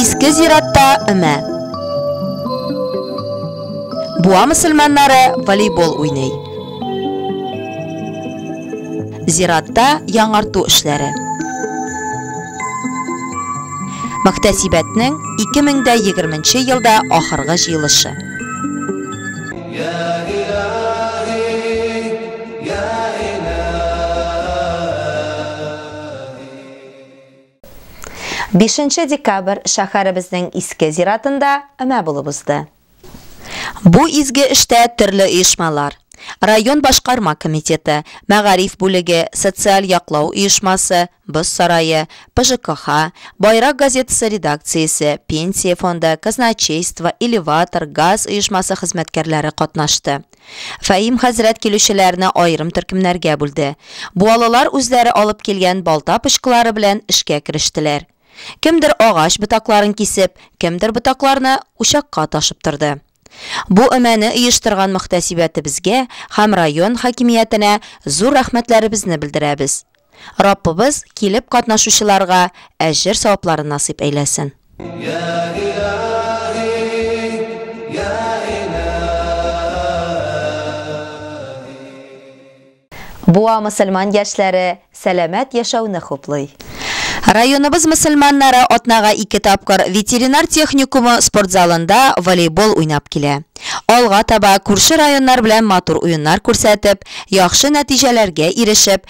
Иске зиратта өмә. Буа мөселманнары волейбол уйный. Зиратта яңарту эшләре. Мөхтәсибәтнең 2020 елда ахыргы җыелышы. Бишенче декабрь шәһәребезнең Иске зиратында өмә булып узды. Бу изге эштә төрле оешмалар, район башкарма комитеты, мәгариф бүлеге, социаль яклау оешмасы, Боз сарае, ПЖКХ, Байрак газетасы редакциясе, Пенсия фонды, казначейство, Элеватор, газ оешмасы хезмәткәрләре катнашты. Фәһим хәзрәт килүчеләрне аерым төркемнәргә бүлде. Буалылар үзләре алып килгән балта пычкылары белән эшкә керештеләр. Кемдер агач ботакларын кисеп, кемдер ботакларны учакка ташып торды. Бу өмәне оештырган мөхтәсибәтебезгә һәм район хакимиятенә зур рәхмәтләребезне белдерәбез. Раббыбыз килеп катнашучыларга әҗер савапларын насыйп әйләсен. Буа мөселман яшьләре сәламәт яшәүне хуплый. Районыбыз мөселманнары атнага ике тапкыр ветеринар техникумы спортзалында волейбол уйнап килә. Алга таба күрше районнар белән матур уеннар күрсәтеп, яхшы нәтиҗәләргә ирешеп,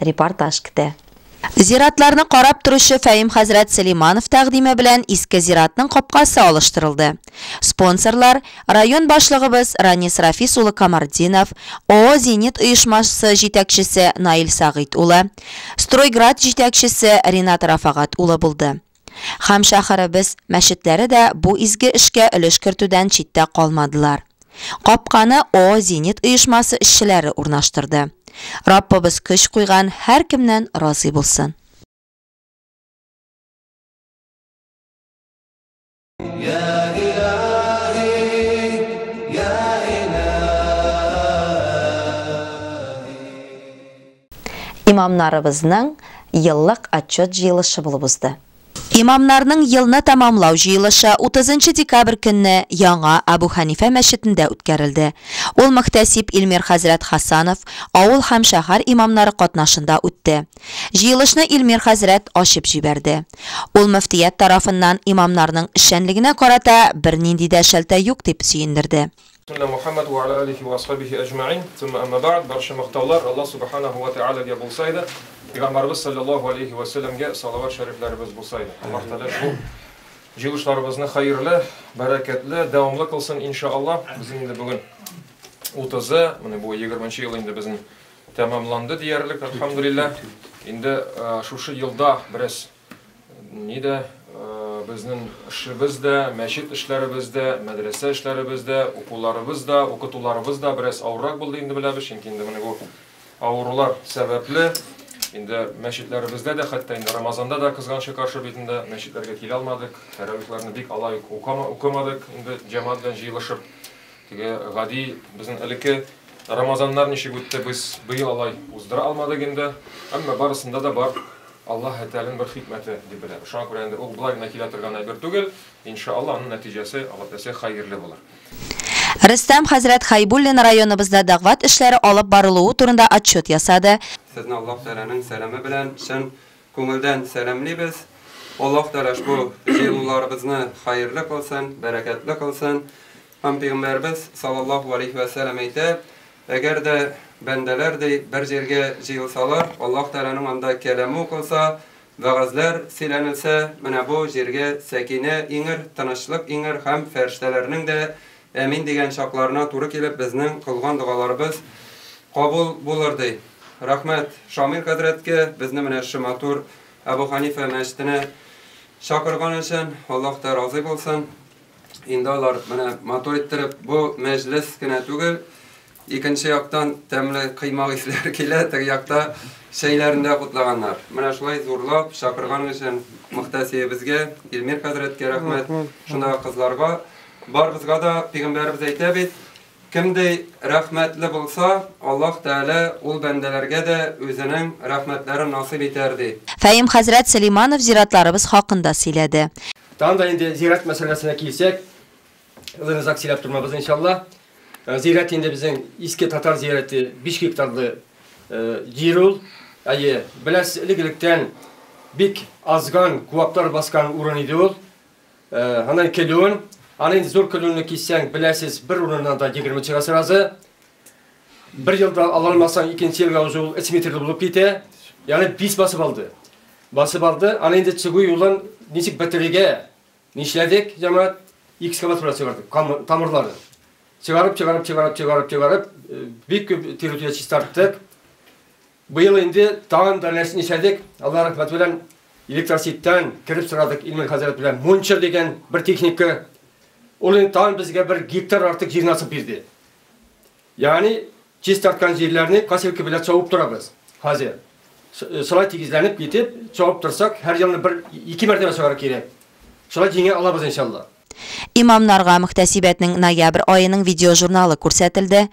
репортаж көтә. Зиратларны карап торучы Фәим хәзрәт Сөләйманов тәкъдиме белән иске зиратның капкасы алыштырылды. Спонсорлар, район башлыгыбыз Ранис Рафис улы Камартдинов, ООО Зенит оешмасы җитәкчесе Наил Сәгыйть улы, Стройград җитәкчесе Ринат Рафагат улы булды. Һәм шәһәребез мәчетләре дә бу изге эшкә өлеш кертүдән читтә калмадылар. Капканы О Зенит оешмасы эшчеләре урнаштырды. Раббыбыз көч куйган һәркемнән разый булсын. Имамнарыбызның еллык отчет җыелышы булып узды. Имамнарның елны тәмамлау җыелышы 30 декабрь көнне Яңа Абу Хәнифә мәчетендә үткәрелде. Ул мөхтәсиб Илмир хәзрәт Хасанов, авыл һәм шәһәр имамнары катнашында үтте. Җыелышны Илмир хәзрәт ачып җибәрде. Ул мөфтият тарафыннан имамнарның эшчәнлегенә карата бернинди дә шелтә юк дип сөендерде. Сөннә Мухәммәд вә ала алихи вә асхабихи әҗмәин, Сумма әмма бәгъд, Барча мактаулар Аллаһ Субханаһу вә тәгаләгә булса иде, Пәйгамбәребез салләллаһу алейһи вә сәлләмгә салават шәрифләребез булса иде. Аллаһ Тәгалә шул җыелышларыбызны хәерле, бәрәкәтле, дәвамлы кылсын, ин ша Аллаһ. Безнең инде бүген утызы, менә бу егерменче ел инде безнең Тәмамланды диярлек, әлхәмдүлилләһ. Инде шушы елда бераз ни дә безнең эшебез дә, мәчет эшләребез дә, мәдрәсә эшләребез дә, укуларыбыз да, укытуларыбыз да бераз авыррак булды инде беләбез, чөнки инде менә бу авырулар сәбәпле инде мәчетләребездә дә, хәтта инде Рамазанда да кызганычка каршы бит инде мәчетләргә килә алмадык, тәравихларны бик алай укамадык инде җәмәгать белән җыелышып. Теге гади безнең элекке Рамазаннар ничек үтте, без быел алай уздыра алмадык инде. Әмма барысында да бар Аллаһ Тәгаләнең бер хикмәте дип беләбез. Шуңа күрә инде ул болай гына килә торган әйбер түгел. Иншааллаһ, аның нәтиҗәсе, Аллаһ теләсә, хәерле булыр. Рөстәм хәзрәт Хәйбуллин районыбызда дәгъват эшләре алып барылуы турында отчет ясады. Сезне Аллаһ Тәгаләнең сәламе белән чын Күңелдән сәламлибез! Аллаһ Тәгалә ошбу җыелуларыбызны хәерле кылсын, бәрәкәтле кылсын! Һәм Пәйгамбәребез саллаллаһу галәйһи вә сәлам әйтә, Әгәр дә бәндәләр, ди, бер җиргә җыелсалар, Аллаһ Тәгаләнең анда кәламе укылса, вәгазьләр сөйләнелсә, менә бу җиргә сәкинә иңер, тынычлык иңер һәм фәрештәләрнең дә Әмин дигән чакларына туры килеп безнең кылган догаларыбыз кабул булыр ди. Рәхмәт Шамил хәзрәткә безне менә шы матур Әбу Ханифә мәчетенә чакырган өчен, Аллаһ та разый булсын. Инде алар менә матур иттереп бу мәҗлес кенә түгел, Икенче яктан тәмле кыймак исләре килә, теге якта чәйләрен дә кутлаганнар. Менә шулай зурлап чакырган өчен мөхтәсиебезгә, Илмир хәзрәткә рәхмәт, шундагы кызларга, барыбызга да пигамбәребез әйтә бит, Кемдәй рәхмәтле булса, Аллаһ Тәгалә ул бәндәләргә дә үзенең рәхмәтләрен насыйп итәр, ди. Фәим хәзрәт Сөләйманов зиратларыбыз хакында сөйләде. Тагын да инде зират мәсьәләсенә килсәк, Озын озак сөйләп тормабыз иншалла. Э, зирәт инде безнең иске татар зирәте 5 гектарлы э, җир ул. Әйе, беләс элек-электән бик азган куаклар баскан урын иде ул. Э, Аннан килүен, аны инде зур килүне киссәң, беләсез, бер урыннан да 20 чыга сразу. Бер елда ала алмасаң, икенче елга уже ул 3 метрлы булып китә. Ягъни 5 басып алды. Басып алды, аны инде чыгу юлын ничек бетерергә? Нишләдек, җәмәгать? Экскаваторга чыгардык, камыр, тамырлары. Чыгарып, чыгарып, чыгарып, чыгарып, чыгарып, бик күп территория чистарттык. Быел инде тагын да нәрсә нишләдек, Алла рәхмәт белән, электросетьтән кереп сорадык Илмир хәзрәт белән. Мунча дигән бер техника. Ул инде тагын безгә бер гектар артык җир насып бирде. Ягъни, чистарткан җирләрне косилка белән чабып торабыз хәзер. Шулай тигезләнеп китеп, чабып торсак, һәр елны бер, ике мәртәбә чабарга кирәк. Шулай җиңә алабыз, иншаллаһ. Имамнарга мөхтәсибәтнең ноябрь аеның видеожурналы күрсәтелде.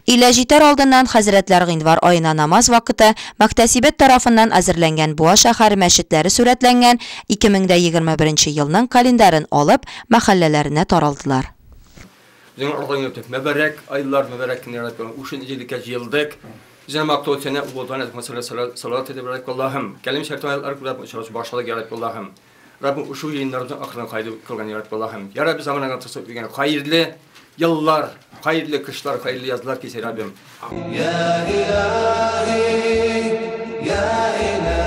Өйлә җитәр алдыннан хәзрәтләр гыйнвар аена намаз вакыты мөхтәсибәт тарафыннан әзерләнгән Буа шәһәре мәчетләре сурәтләнгән 2021 елның календарен алып, мәхәлләләренә таралдылар. Үзеңә алга юнәлтеп, мөбарәк айлар, мөбарәк көннәрдә туган үчен җилеккә җыелдык. Үзеңә мактау сәнә булган язма сәләт сәләт сәләт итеп Раббим Аллаһым. Кәлим шәрт аятлар күрә очрашу башладык, я Раббим Аллаһым. Раббим ушу җыеннарны ахырына кайду кылган, я Раббим Аллаһым. Я Раббим заманага тосып дигән хәерле еллар, хәерле кышлар, хәерле язлар кисә Раббим. Я илаһи, я илаһи.